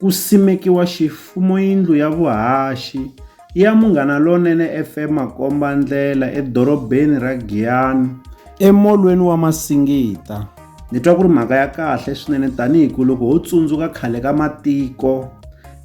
Ku simekiwa xifumoyindlu ya vuhaxi ya Munghana Lonene FM makombandlela edorobeni ra Giyani emolweni wa Masingita. Ni twa ku ri mhaka ya kahle swinene tanihi ku loko ho tsundzuka khale ka matiko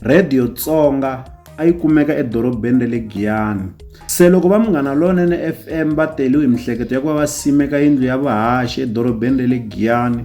Radio Tsonga a yi kumeka edorobeni ra le Giyani. Se loko va Munghana Lonene FM va teriwe hi mihleketo ya ku va va simeka yindlu ya vuhaxi edorobeni ra le Giyani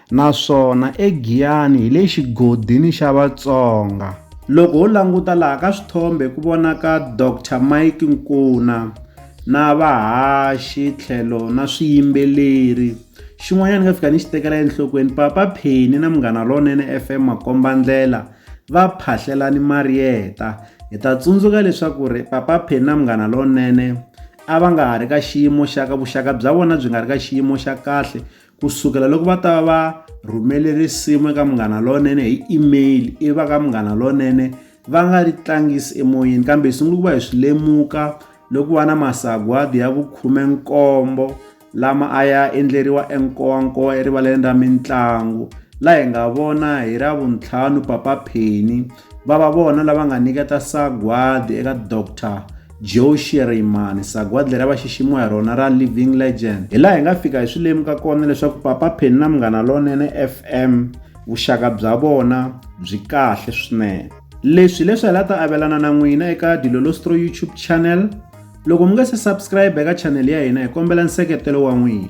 Naswona eGiyani hi le xigodini xa Vatsonga. Loko ho languta laha ka swithombe ku vonaka Doctor Mike Nkuna na vahaxi tlhelo na swiyimbeleri. Xin'wanyana ni nga fika ni xi tekela enhlokweni Papa Penny na Munghana Lonene F_M makombandlela va phahlela ni Marietta. Hi ta tsundzuka leswaku ri Papa Penny na Munghana Lonene a va nga ha ri ka xiyimo xa ka vuxaka bya vona byi nga ri ka xiyimo xa kahle Ku sukela loko va ta va va rhumele risimu eka Munghana Lonene hi email ivi va ka Munghana Lonene va nga ri tlangisi emoyeni kambe hi sungule ku va hi swi lemuka loko va na masagwadi ya vukhumenkombo lama a ya endleriwa enkowankowa erivaleni ra mitlangu laha hi nga vona hi ra vuntlhanu Papa Penny Va va vona lava nga nyiketa sagwadi eka Dr. Joe Shirimani, sagwadi leri a va xiximiwa hi rona ra Living Legend. Hi laha hi nga fika hi swi lemuka kona leswaku Papa Penny na Munghana Lonene FM vuxaka bya vona byi kahle swinene. Leswi leswi hi la ta avelana na n'wina eka Dilolostro YouTube channel. Loko mi nga se subscribe eka channel ya hina hi kombela nseketelo wa n'wina.